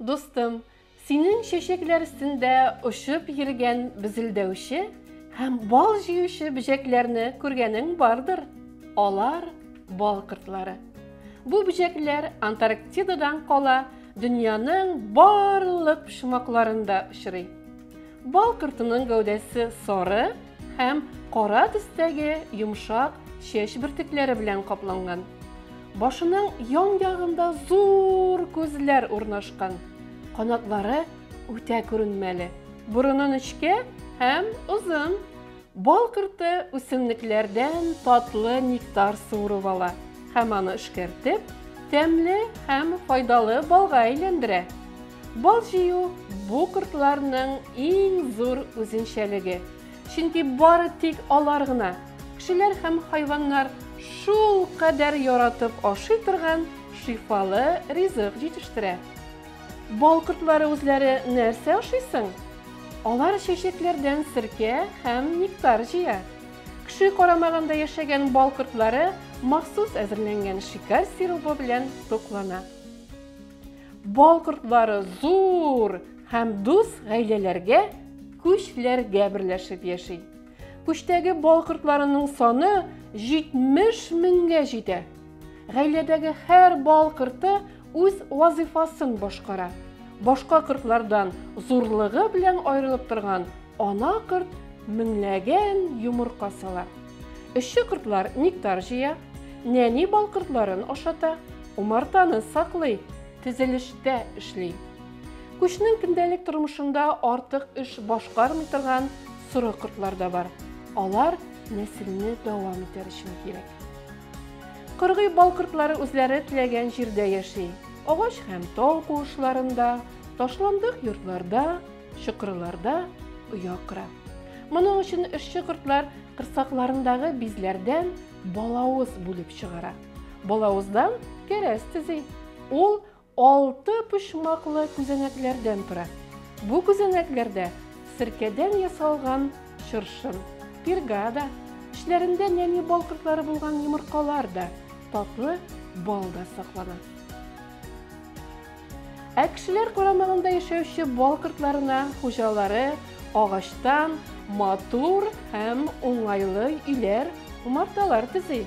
Дустым, синең чәчәкләр өстендә очып йөргән бизелдәүче һәм бал җыючы бөҗәкләрне күргәнең бардыр. Алар бал кортлары. Бу бөҗәкләр Антарктидадан кала Дөньяның барлык почмакларында очрый. Бал кортының гәүдәсе сары һәм кара төстәге йомшак чәч бөртекләре белән капланган. Башының ян ягында зур күзләр урнашкан. Канатлары үтә күренмәле. Борыны нечкә һәм озын. Бал корты үсемлекләрдән татлы нектар суырып ала һәм аны эшкәртеп, тәмле һәм файдалы балга әйләндерә. Бал җыю бу кортларның иң зур үзенчәлеге, чөнки бары тик алар гына, кешеләр һәм хайваннар шулкадәр яратып ашый торган шифалы ризык җитештерә. Бал кортлары үзләре нәрсә ашый соң? Алар чәчәкләрдән серкә һәм нектар җыя. Кеше карамагында яшәгән бал кортлары махсус әзерләнгән шикәр сиробы белән туклана. Бал кортлары зур һәм дус гаиләләргә, күчләргә берләшеп яши. Күчтәге бал кортларының саны 70 меңгә җитә. Гаиләдәге һәр бал корты Үз вазыйфасын башкара. Башка кортлардан зурлыгы белән аерылып торган ана корт меңләгән йомырка сала. Эшче кортлар нектар җыя, нәни бал кортларын ашата, умартаны саклый, тезелештә эшли. Күчнең көндәлек тормышында артык эш башкармый торган соры кортлар да бар. Алар нәселне дәвам итәр өчен кирәк. Кыргый бал кортлары үзләре теләгән җирдә яши. Агач һәм тау куышларында, ташландык йортларда, чокырларда оя кора. Моның өчен эшче кортлар кырсакларындагы бизләрдән балавыз бүлеп чыгара. Балавыздан кәрәз төзи. Ул Алты почмаклы күзәнәкләрдән тора. Бу күзәнәкләрдә серкәдән ясалган чыршын, пирга да, эчләрендә нәни бал кортлары булган йомыркалар да, татлы бал да саклана. Ә кешеләр карамагында яшәүче бал кортларына хуҗалары агачтан матур һәм уңайлы өйләр, умарталар төзи.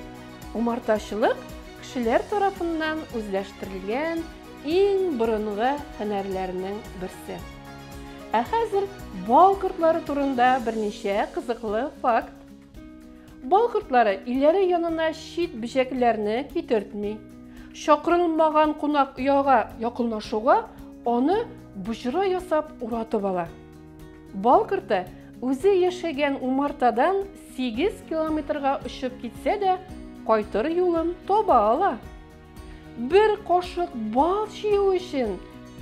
Умартачылык кешеләр тарафыннан үзләштерелгән иң борынгы һөнәрләрнең берсе. Ә хәзер бал кортлары турында берничә кызыклы факт. Бал кортлары өйләре янына чит бөҗәкләрне китертми. Чакырылмаган кунак ояга якынлашуга аны боҗра ясап уратып ала. Бал корты үзе яшәгән умартадан сигез километрга очып китсә дә, кайтыр юлын таба ала. Бер кашык бал җыю өчен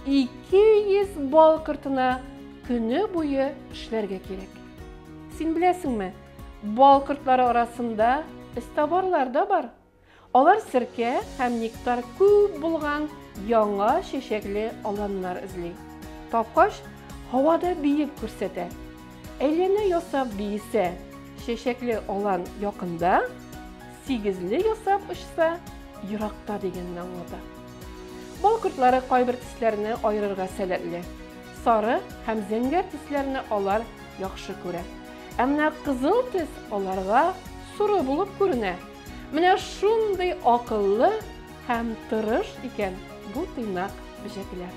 200 бал кортына көне буе эшләргә кирәк. Син беләсеңме, бал кортлары арасында эзтабарлар да бар. Алар серкә һәм нектар күп булган яңа чәчәкле аланнар эзли. Тапкач, һавада биеп күрсәтә. Әйләнә ясап биесә, чәчәкле алан якында, сигезле ясап очса, еракта дигәнне аңлата. Бал кортлары кайбер төсләрне аерырга сәләтле. Сары һәм зәңгәр төсләрне алар яхшы күрә. Ә менә кызыл төс аларга соры булып күренә. Менә шундый акыллы һәм тырыш икән бу тыйнак бөҗәкләр.